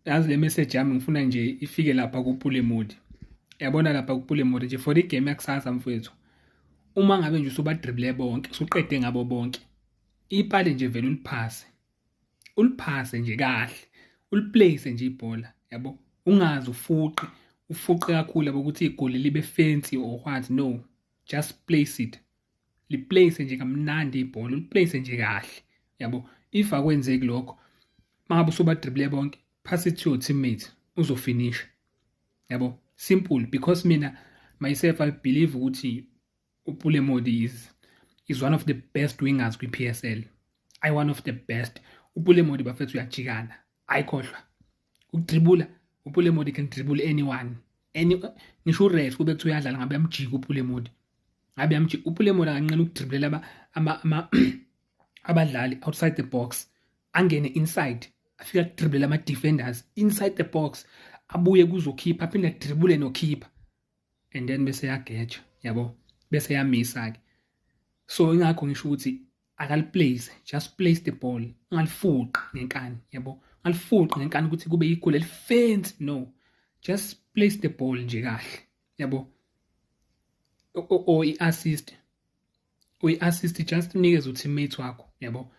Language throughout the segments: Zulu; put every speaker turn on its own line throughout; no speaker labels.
yazi le message yami ngifuna nje ifike lapha kupule mode yabona lapha kupule mode nje for igame yakusasa mfowethu uma ngabe nje usubadribble bonke usuqede ngabo bonke ipali nje vele uliphase uliphase nje kahle uliplace nje ibhola yabo ungazi ufuqe ufuqe kakhulu yabo ukuthi igoli libe fancy or what no just place it liplace nje kamnandi ibhola uliplace nje kahle yabo if akwenzeki lokho mangabe usobadribble bonke pass it to your teammate uzofinisha yabo simple because mina myself i believe ukuthi upule modi is is one of the best wingers kwi-psl i one of the best upule modi bafethu uyajikana ayikhohlwa ukudribula upulemodi can dribble anyone any ngisho uref kube kuthiwa uyadlala ngabe yamjika upulemodi ngabe yamjika upulemodi akanqena ukudribulela abadlali outside the box angene inside afika kudribulela ama-defenders inside the box abuye kuzokhipha aphinde adribule nokhipha and then bese yagetsha yabo bese yamisa-ke so ingakho ngisho ukuthi akaliplace just place the ball ungalifuqi ngenkani yabo ungalifuqi ngenkani ukuthi kube igoli elifensi no just place the ball nje kahle yabo o i-assist uyi-assist just unikeze uteammate wakho yabo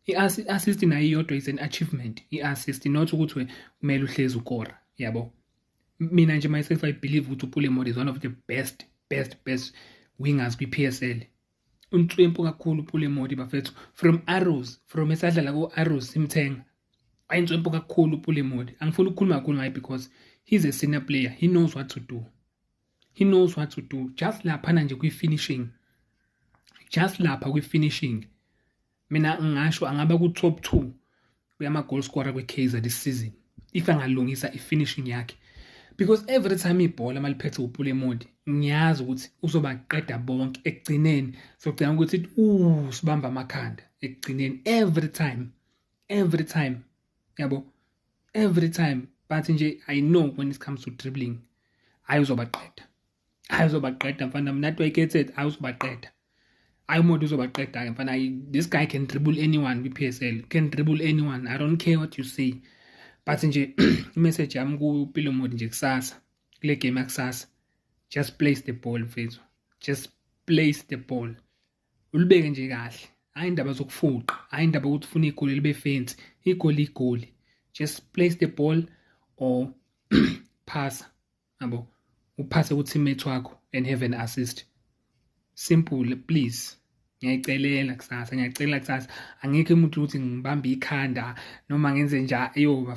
i-assist nayo iyodwa is an achievement i-assist not ukuthi kumele uhlezi ukora yabo mina nje myself i believe ukuthi upule mode is one of the best best best wingers kwi-p s l unhlwempu kakhulu pule modi bafethu from arrows from esadlala ku-arrows simthenga ayinhlwempu kakhulu pule modi angifuni ukukhuluma kakhulu ngaye because he's a senior player he knows what to do he knows what to do just laphana nje kwi-finishing just lapha kwi-finishing mina ngingasho angaba ku-top two kuyama-goal scorer kwi-kaizer this season if angalungisa i-finishing yakhe because every time ibhola maliphethe upule modi ngiyazi ukuthi uzobaqeda bonke ekugcineni sogcina ukuthi uh sibamba amakhanda ekugcineni every time every time yabo every time but nje i know when it comes to dribbling ayuzobaqeda hayi uzobaqeda mfana mna to eketed hayi uzobaqeda hayi umuntu uzobaqeda ke mfana this guy can dribble anyone kwi-psl can dribble anyone i don't care what you say but nje imessage yami kupilo mode nje kusasa kule game yakusasa just place the ball mfethu just place the ball ulibeke nje kahle hayi indaba zokufuqa hayi indaba ukuthi ufuna igoli libe fancy igoli igoli just place the ball or phasa yabo uphase ku-teammate wakho and have an assist simple please ngiyayicelela kusasa ngiyacelela kusasa angikho umuntu ukuthi ngibambe ikhanda noma ngenze njani eyoba